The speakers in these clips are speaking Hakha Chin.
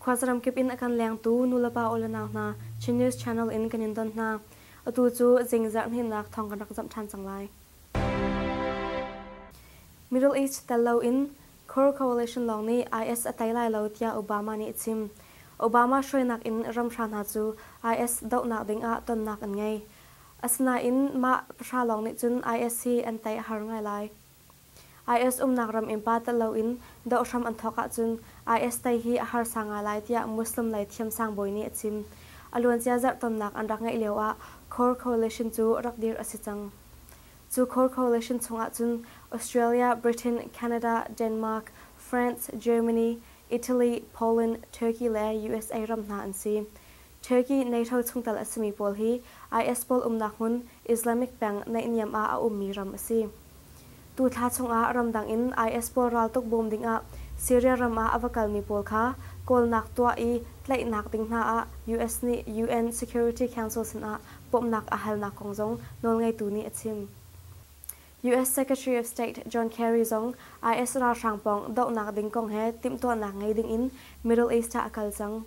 Khuasaram kip in a kan lengtu nulepa awlenau hna Chin News Channel in kan in don hna. Atu cu zingzarh hninnak thawng kan rak zamh ṭhan cang lai. Middle East tel lo in Core Coalition lawng nih IS a tei lai lo tiah Obama nih a chim. Obama hruainak in ramhra hna cu IS dohnak ding ah tonnak an ngei. Asinain mah pahra lawng nih cun IS hi an tei a har ngai lai. IS umnak ram in pa telh loin doh hram an thawk ahcun IS tei hi a harsa ngai lai tiah Muslim lei thiamsang bawi nih a chim. A luancia zarhtonnak an rak ngeih lio ah Core Coalition cu rak dirh a si cang. Cu co-coalition chungah cun Australia, Britain, Canada, Denmark, France, Germany, Italy, Poland, Turkey le usa ram hna an si. Turkey NATO chungtel a simi pawl hi IS pawl umnak hmun Islamic peng naihniam ah a ummi ram a si. Tu thla chungah ramdang in IS pawl raltuk bawm dingah Syria ram ah a va kalmi pawl kha kawlnak tuah i tlaihnak ding hna ah US nih UN Security Council sinah bawmhnak a halnak kong zong nawlngeitu nih a chim. US Secretary of State John Kerry zong IS ralhrang pawng dohnak ding kong he timhtuahnak ngei dingin Middle East ah a kal cang.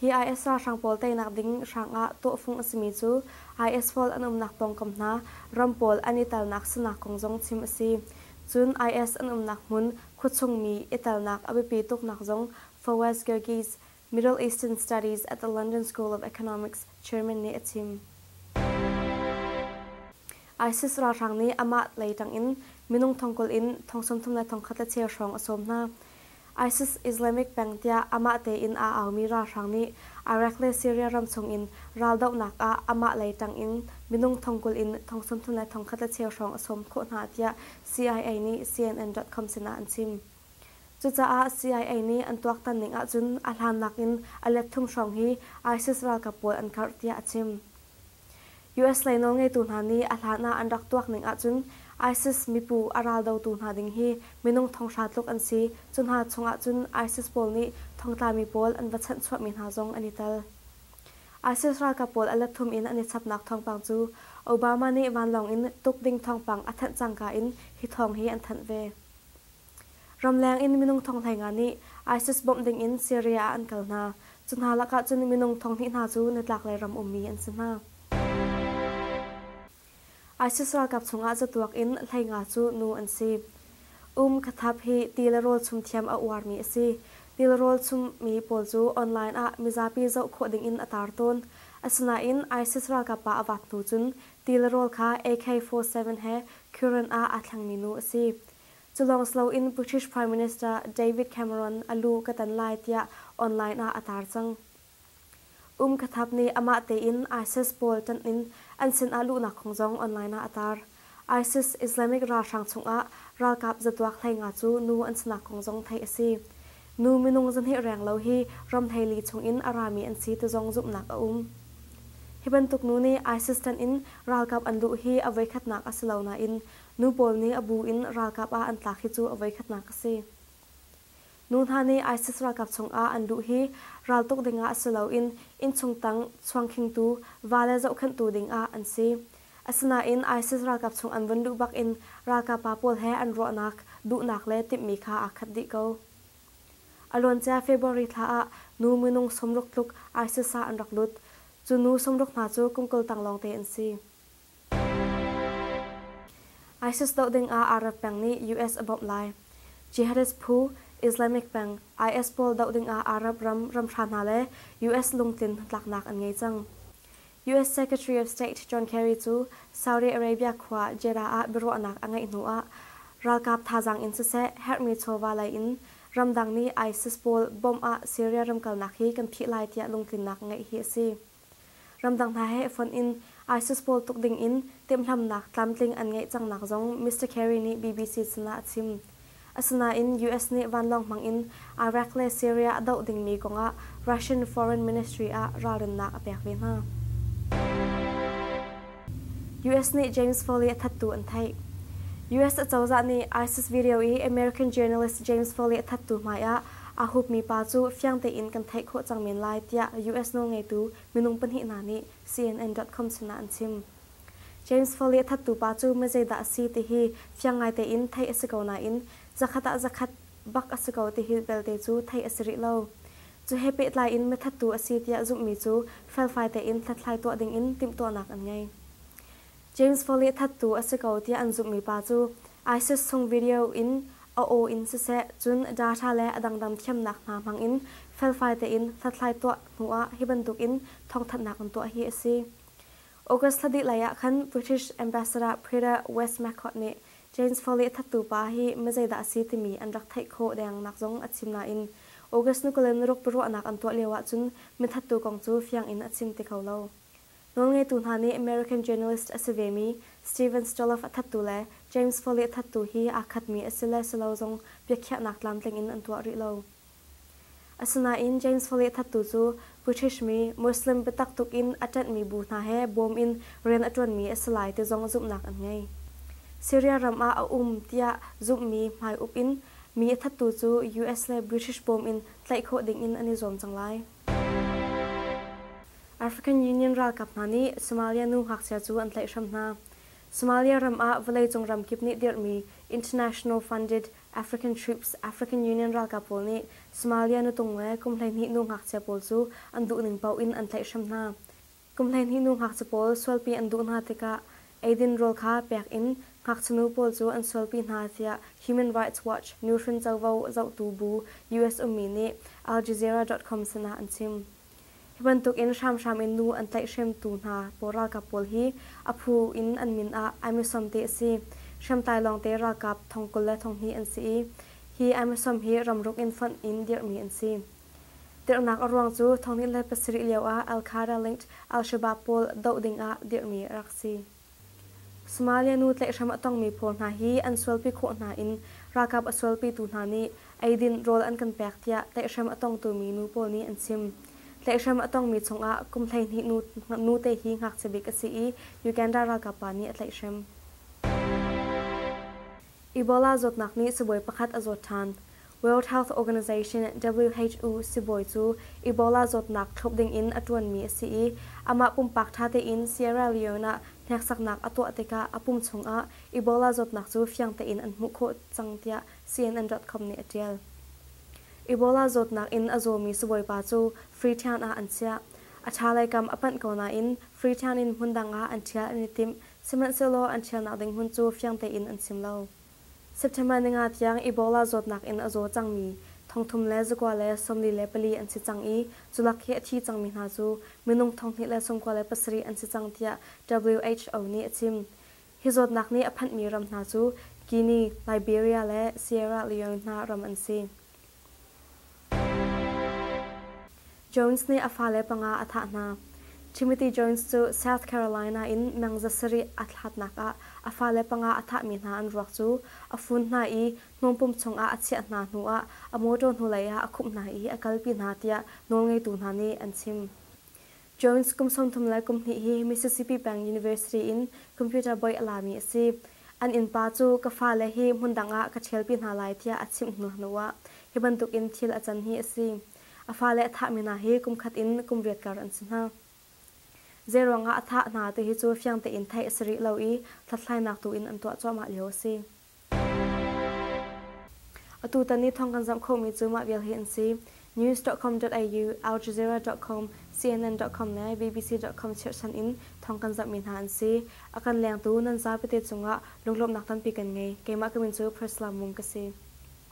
Hi IS ralhrang pawl teinak ding hrang ah tawhfung a simi cu IS fawl an umnak pawngkam hna ram pawl an i telnak sinak kong zong chim a si. Cun IS an umnak hmun khuachungmi i telnak a biapi tuknak zong Fawaz Girgiz, Middle Eastern Studies at the London School of Economics chairman nih a chim. ISIS ralhrang nih amah lei tangin minung thongkul in thong sawmthum le thong khat le cheu hrawng a sawm hna. ISIS Islamic peng tiah amah tein aa aumi ralhrang nih Iraq le Syria ram chungin raldohnak ah amah lei tangin minung thongkul in thong sawmthum le thong khat le cheu hrawng a sawm khawh hna tiah CIA nih CNN.com sinah an chim. Cucaah CIA nih an tuaktan ning ahcun a hlan nakin a let thum hrawng hi ISIS ralkap pawl an karh tiah a chim. US lei nawlngeitu hna nih a hlan ah an rak tuak ning ahcun ISIS mipu a raldotu hna ding hi minung thonghra tluk an si. Cu hna chungah cun ISIS pawl nih thongtlami pawl an va chanh chuahmi hna zong an i tel. ISIS ralkap pawl a let thum in an i chapnak thawngpang cu Obama nih vanlawng in tuk ding thawngpang a thanh cangka in hi thawng hi an thanh ve. Ramleng in minung thong hleinga nih ISIS bawmh dingin Syria ah an kal hna. Cu hna lakah cun minung thong hnih hna cu nitlaklei ram ummi an si hna. ISIS ralkap chungah zatuak in hleinga cu nu an si. Um khathap hi ti le rawl chung thiam a uarmi a si. Ti le rawl chungmi pawl cu online ah mizapi zoh khawh dingin a tar tawn. Asinain ISIS ralkap pa a vaat hnu cun ti le rawl kha AK-47 he Curin ah aa thlengmi nu a si. Culawng siloin British Prime Minister David Cameron a lu ka tan lai tiah online ah a tar cang. Um Khathap nih amah tein ISIS pawl ṭanh in an sinah luhnak kong zong online ah a tar. ISIS Islamic ralhrang chungah ralkap zatuak hlei nga cu nu an sinak kong zong theih a si. Nu minung zahnih reng lo hi ramhleili chungin a rami an si ti zong zumhnak a um. Hi bantuk nu nih ISIS ṭanh in ralkap an luh hi a voikhatnak a si lo nain Nu pawl nih a bu in ralkap ah an tlak hi cu a voikhatnak a si. Nu hna nih ISIS ralkap chungah an luh hi raltuk dingah si loin innchung tang chuangkhingtu va le zohkhenhtu dingah an si. Asinain ISIS ralkap chung an vun luh bakin ralkap pa pawl he an ruahnak, duhnak le timhmi kha aa khat dih ko. A luancia February thla ah nu minung sawmruk tluk ISIS ah an rak lut. Cu nu sawmruk hna cu kum kul tang lawngte an si. ISIS doh dingah Arab peng nih US a bawmh lai. Jihadist phu, Islamic peng, IS pawl doh dingah Arab ram ramhra hna le US lungtlin hnatlaknak an ngei cang. US Secretary of State John Kerry cu Saudi Arabia khua Jeddah ah biaruahnak a ngeih hnu ah ralkap thazaang in siseh herhmi chawva lei in ramdang nih ISIS pawl bawmh ah Syria ram kalnak hi kan phih lai tiah lungtlinnak ngeih hi a si. Ramdang hna he fonh in ISIS pawl tuk ding in timhlamhnak tlamtling an ngeih cangnak zong Mister Kerry nih BBC sinah a chim. Asinain US nih vanlawng hmang in Iraq le Syria a doh dingmi kongah Russian Foreign Ministry ah ralrinnak a pek ve hna. US nih James Foley a thattu an theih. US acozah nih ISIS video i American journalist James Foley a thattu hmaiah Aa hupmi pa cu fiang tein kan theih khawh cang men lai tiah US nawlngeitu minung pahnih hna nih CNN.com sinah an chim. James Foley a thattu pa cu mizeidah a si tihi fiang ngai tein theih a si ko nain zakhat ah zakhat bak a si ko tihi belte cu theih a si rih lo. Cu he pehtlai in mithattu a si tiah zumhmi cu felfai tein hlathlai tuah dingin timhtuahnak an ngei. James Fawleh thattu a si ko tiah an zumhmi pa cu ISIS chung video in a aw in siseh cun data le a dangdang thiamnak hna hmangin felfai tein hlathlai tuah hnu ah hi bantukin thawngthanhnak an tuah hi a si. August thla dih lai ah khan British Ambassador Prita West-Macott nih James Fawleh thattu pa hi mizeidah a si timi an rak theih khawh dengnak zong a chim nain August ni kul in ruk biaruahnak an tuah lio ahcun mithattu kong cu fiang in a chim ti kho lo. Nawlngeitu hna nih American journalist a si vemi Steven Stoloff a thattu le James Foley a thattu hi aa khatmi a si le si lo zong biakhiahnak tlamtling in an tuah rih lo. Asinain James Foley a thattu cu British mi, Muslim biatak tuk in a ṭanhmi bu hna he bawm in rian a ṭuanmi a si lai ti zong zumhnak an ngei. Syria ram ah a um tiah zumhmi hmaiup in mi a thattu cu US le British bawm in tlaih khawh ding in an i zuam cang lai. African Union ralkap hna nih Somalia nu ngakchia cu an tlaih hram hna. Somalia ram ah vawleicung ram kip nih dirhmi International Funded African Troops African Union ralkap pawl nih Somalia nutung le kum hleihnih nu ngakchia pawl cu an duhning paoh in an tlaih hram hna. Kum hleihnih nu ngakchia pawl sualpi an duh hna tikah eidin rawl kha pek in ngakchinu pawl cu an sualpi hna tiah Human Rights Watch nuhrin covo zohtu bu US ummi nih Al Jazeera.com sinah an chim. Hi bantukin hramhram in nu an tlaihhremtu hna pawl ralkap pawl hi a phu in an min ah ai misom te a si. Hriamtlai lawngte ralkap thong kul le thonghnih an si i hi ai misom hi ramruk in fonh in dirhmi an si. Tirhnak a ruang cu thong ni le pasarih lioah Al-Khairah-linked Al-Shabaab pawl doh dingah dirhmi a rak si. Somalia nu tlaihhrem a tongmi pawl hna hi an sualpi khawh hna in ralkap a sualpitu hna nih eidin rawl an kan pek tiah tlaihhrem a tongtumi nu pawl nih an chim. Tlaihhrem a tongmi chungah kum hleihnih nute hi ngakchia bik a si i Uganda ralkap pa nih a tlaihhrem. Ebola zawtnak nih sibawi pakhat a zawt ṭhan. World Health Organization, WHO, sibawi cu Ebola zawtnak thlawp dingin a ṭuanmi a si i amah pumpak ṭha tein Sierra Leone ah hneksaknak a tuah tikah a pum chungah Ebola zawtnak cu fiang tein an hmuh khawh cang tiah CNN.com nih a ṭial. Ebola zawtnak in a zawmi sibawipa cu Freetown ah an chiah. A ṭhalei kam a panh ko nain Freetown in hmun dang ah an ṭhial an i timh, Sihmanhsehlaw an ṭhialnak ding hmun cu fiang tein an chim lo. September ni nga tiang Ebola zawtnak in a zaw cangmi thongthum le zakua le sawmli le pali an si cang i culak hi a thi cangmi hna cu minung thonghnih le sawmkua le pasarih an si cang tiah WHO nih a chim. Hi zawtnak nih a phanhmi ram hna cu Guinea, Liberia le Sierra Leone hna ram an si. Jones nih a fale panga a thah hna. Timothy Jones cu South Carolina in meng za sarih a thlatnak ah a fale panga a thahmi hna an ruak cu a fun hna i hnawmpum chungah a chiah hna hnuah a mawṭaw hnulei ah a khumh hna i a kalpi hna tiah nawlngeitu hna nih an chim. Jones kum sawmthum le kum hnih hi Mississippi peng University in computer bawi a lami a si. An innpa cu ka fale hi hmundang ah ka ṭhialpi hna lai tiah a chimh hnu hnuah hi bantukin thil a can hi a si. A fale a thahmi hna hi kumkhat in kum riatkar an si hna. Zeiruangah a thah hna tihi cu fiang tein theih a si rih lo i hlathlainak tu in an tuah cuahmah lio a si. Atutan i thawng kan zoh khomi cu mah vial hi an si. News.com.au, aljazeera.com, CNN.com le BBC.com chirhsan in thawng kan zohmi hna an si. A kan lengtu nan zapate cungah lunglawmhnak tampi kan ngei. Keimah ka min cu Priscilla Mung ka si.